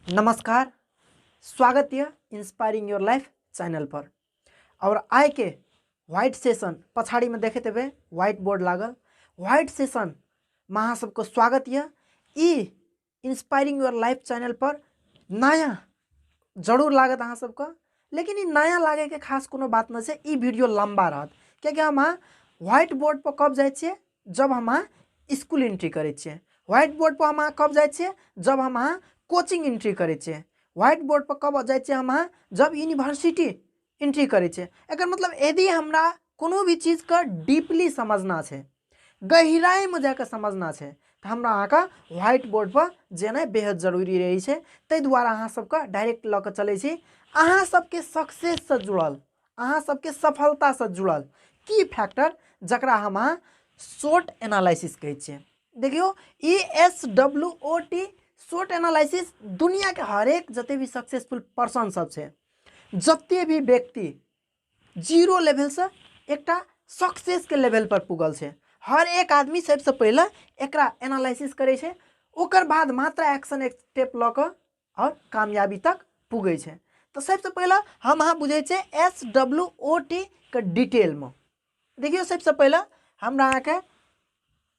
नमस्कार स्वागत है इंस्पायरिंग योर लाइफ चैनल पर और आय के व्हाइट सेशन पछाड़ी में देखे तेबे व्हाइट बोर्ड लागल व्हाइट सेशन में अहाँ सबके स्वागत यऽ ई इंस्पायरिंग योर लाइफ चैनल पर नया जरूर लागत अहाँ सबके लेकिन ई नया लागे के खास कोनो बात न छै ई वीडियो लंबा रहत कियाकि हम अहाँ व्हाइट बोर्ड पर कब जाइ छियै जब हम अहाँ स्कूल एंट्री करै छियै व्हाइट बोर्ड पर हम अहाँ कब जाइ छियै जब हम अहाँ कोचिंग एंट्री करै छियै व्हाइट बोर्ड पर कब जाइ छियै हम अहाँ जब यूनिवर्सिटी एंट्री करै छै एकर मतलब यदि हमरा कोनो भी चीजके डीपली समझना छै गहिराइमे जाके समझना छै तऽ हमरा अहाँके व्हाइट बोर्डपर जेनाइ बेहद जरूरी रहै छै ताहि दुआरे अहाँ सबके डायरेक्ट लऽ कऽ चलै छी अहाँ सबके सक्सेससँ जुड़ल अहाँ सबके सफलतासँ जुड़ल की फैक्टर जकरा हम अहाँ शॉर्ट एनालिसिस कहै छियै देखियौ ई S W O T short analysis दुनियाके हरेक जते भी सक्सेसफुल पर्सन सब छै जते भी व्यक्ति जीरो लेवल से एकटा सक्सेस के लेवल पर पुगल छै हर एक आदमी सबसे पहले एक एनालिसिस करे छै ओकर बाद मात्र एक्शन एक स्टेप लऽ कऽ आओर कामयाबी तक पुगे छै तो सबसे पहले हम अहाँ बुझे छै एस डब्ल्यू ओ टी के डिटेल में देखियो सबसे पहले हमरा अहाँके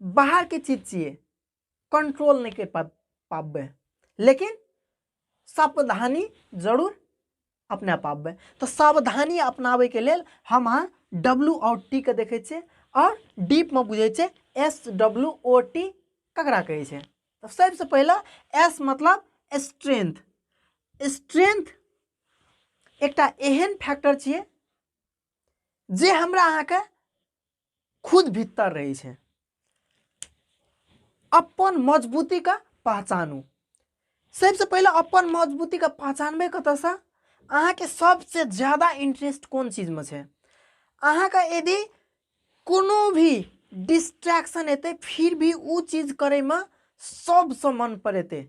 बाहर के चीज चाहिए कंट्रोल नहीं के पा पाबे लेकिन सावधानी जरूर अपना पाबे तो सावधानी अपनावे के लेल हम अहाँ डब्लू और टी के देखे छे और डीप में बुझे छे एस डब्लू ओ टी ककरा कहे छे तो सबसे पहले एस मतलब स्ट्रेंथ स्ट्रेंथ एकटा एहन फैक्टर छे जे हमरा अहाँ के खुद भीतर रहे छे अपन मजबूती का पहचानू सबसे पहले अपन मजबूती का पहचानबे कत से अहा के सबसे ज्यादा इंटरेस्ट कौन चीज में छे अहा का यदि कोनो भी डिस्ट्रैक्शन एते फिर भी उ चीज करे में सबसे मन पर एते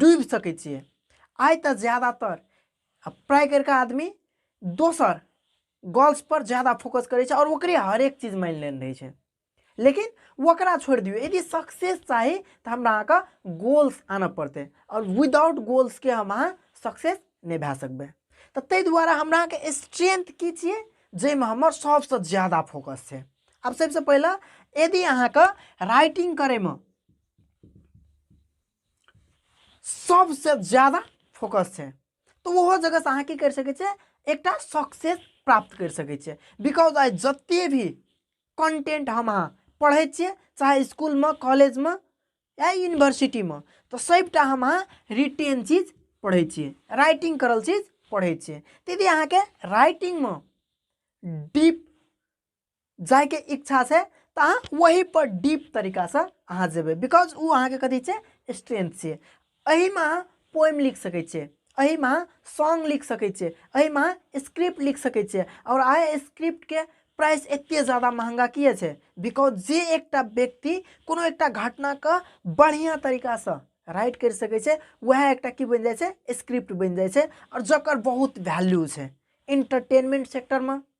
डूबि सकै छियै आइ तऽ ज्यादातर आ प्राय करिके आदमी दोसर गर्ल्स पर ज्यादा फोकस करै छै आओर ओकरे हरेक चीज मानि लेने रहै छै लेकिन ओकरा छोड़ि दियौ यदि सक्सेस चाही तऽ हमरा अहाँके गोल्स आनऽ पड़तै आओर विदाउट गोल्सके हम अहाँ सक्सेस नहि भए सकबै तऽ ताहि दुआरे हमरा अहाँके स्ट्रेंथ की छियै जाहिमे हमर सभसँ ज्यादा फोकस छै आब सभसँ पहिले यदि अहाँके राइटिंग करैमे सबसे ज्यादा फोकस छै तऽ ओहो जगहसँ अहाँ की करि सकै छियै एकटा सक्सेस प्राप्त करि सकै छियै बिकॉज आइ जते भी कंटेंट हम अहाँ पढ़ै छियै चाहे स्कूलमे कॉलेजमे या यूनिवर्सिटीमे तऽ सभटा हम अहाँ रिटेन चीज पढ़ै छियै राइटिंग करल चीज पढ़ै छियै तऽ यदि अहाँके राइटिंगमे डीप जायके इच्छा छै तऽ अहाँ वहीपर डीप तरीकासँ अहाँ जेबै बिकॉज ओ अहाँके कथी छै स्ट्रेंथ छै एहिमे अहाँ पोएम लिख सकै छियै एहिमे अहाँ सॉन्ग लिख सकै छियै एहिमे अहाँ स्क्रिप्ट लिख सकै छियै आओर अहाँ स्क्रिप्टके प्राइस एतेक जादा महँगा किए छै बिकॉज जे एकटा व्यक्ति कोनो एकटा घटनाके बढ़िआँ तरीकासँ राइट करि सकै छै वएह एकटा की बनि जाइ छै स्क्रिप्ट बनि जाइ छै आओर जकर बहुत वैल्यू छै इंटरटेनमेंट सेक्टरमे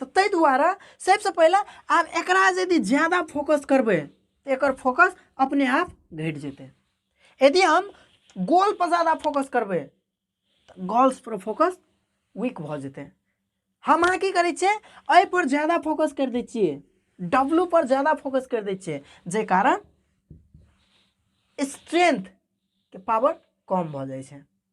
तऽ ताहि दुआरे सभसँ पहिले आब एकरा यदि ज्यादा फोकस करबै तऽ एकर फोकस अपने आप घटि जेतै यदि हम गोलपर ज्यादा फोकस करबै तऽ गोल्सपर फोकस वीक भऽ जेतै हम अहाँ की करै छियै एहिपर ज्यादा फोकस करि दै छियै डब्लू पर ज्यादा फोकस करि दै छियै जाहि कारण स्ट्रेंथ के पावर कम भऽ जाइ छै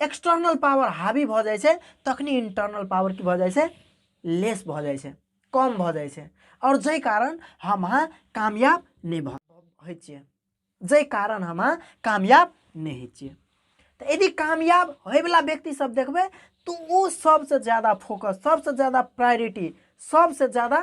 एक्सटर्नल पावर हावी भऽ जाइ छै तखने इंटरनल पावर की भऽ जाइ छै लेस भऽ जाइ छै कम भऽ जाइ छै आओर जाहि कारण हम अहाँ कामयाब नहि भऽ होइ छियै जाहि कारण हम अहाँ कामयाब नहि होइ छियै तऽ यदि कामयाब होयवला व्यक्तिसभ देखबै तऽ ओ सभसँ ज्यादा फोकस सभसँ ज्यादा प्रायोरिटी सभसँ ज्यादा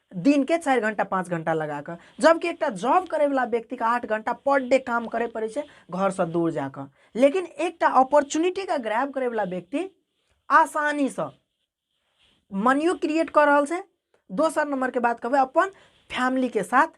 दिन के चारि घंटा पाँच घंटा लगा कऽ जबकि एकटा जॉब करैवला व्यक्तिके आठ घंटा पर डे काम करय पड़ै छै घरसँ दूर जा कऽ लेकिन एकटा अपॉर्चुनिटीके ग्रैब करैवला व्यक्ति आसानीसँ मनियो क्रिएट कऽ रहल छै दोसर नंबरके बात कहबै अपन फैमिलीके साथ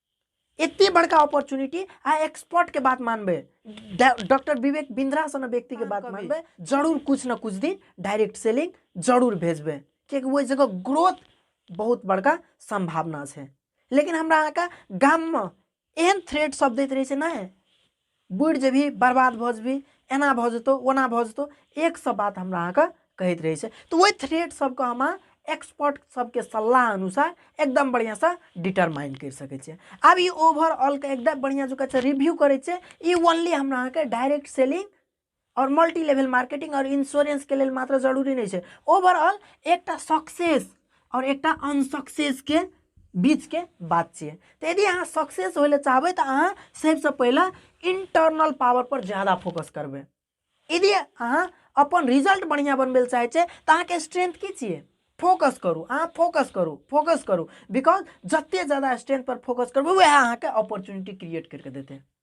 एते बड़का अपॉर्चुनिटी आ एक्सपर्ट के बात मानबे डा- डॉक्टर विवेक बिंद्रा सन व्यक्ति के बात मानबे जरूर कुछ न कुछ दिन डायरेक्ट सेलिंग जरूर भेजबे कियाकि ओहि जगह ग्रोथ बहुत बड़का संभावना छै लेकिन हमरा अहाँके गाममे एहन थ्रेड सब दैत रहै छै नहि बुड़ि जेबही बर्बाद भऽ जेबही एना भऽ जेतौ ओना भऽ जेतौ एक सए बात हमरा अहाँके कहैत रहै छै तऽ ओहि थ्रेट सबके हम एक्सपर्ट सबके सलाह अनुसार एकदम बढ़िआँसँ डिटरमाइन करि सकै छियै आब ई ओवरऑलके एकदम बढ़िआँ जकाँ रिव्यू करै छै ई ओनली हमरा अहाँके डायरेक्ट सेलिंग आओर मल्टी लेवल मार्केटिंग आओर इन्श्योरेंसके लेल मात्र जरूरी नहि छै ओवरऑल एकटा सक्सेस आओर एकटा अनसक्सेसके बीचके बात छियै तऽ यदि अहाँ सक्सेस होय लए चाहबै तऽ अहाँ सभसँ पहिले इंटरनल पावर पर ज्यादा फोकस करबै यदि अहाँ अपन रिजल्ट बढ़िआँ बनबै लए चाहै छै तऽ अहाँके स्ट्रेंथ की छियै फोकस करू अहाँ फोकस करू फोकस करू बिकॉज जतेक ज्यादा स्ट्रेंथ पर फोकस करबै उएह अहाँके अपॉर्चुनिटी क्रिएट करि कऽ देतै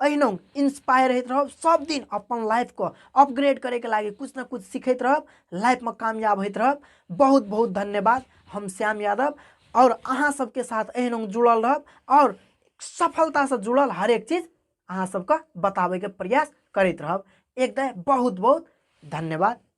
अहिना इंस्पायर होइत रहब सब दिन अपन लाइफ को अपग्रेड करे के लागे कुछ ना कुछ सीखत रहब लाइफ में कामयाब होइत रहब बहुत बहुत धन्यवाद हम श्याम यादव और अहाँ सबके साथ अहिना जुड़ल रहब और सफलता से जुड़ल हर एक चीज अहाँ सबके बताबे के प्रयास करत रहब एक दय बहुत बहुत धन्यवाद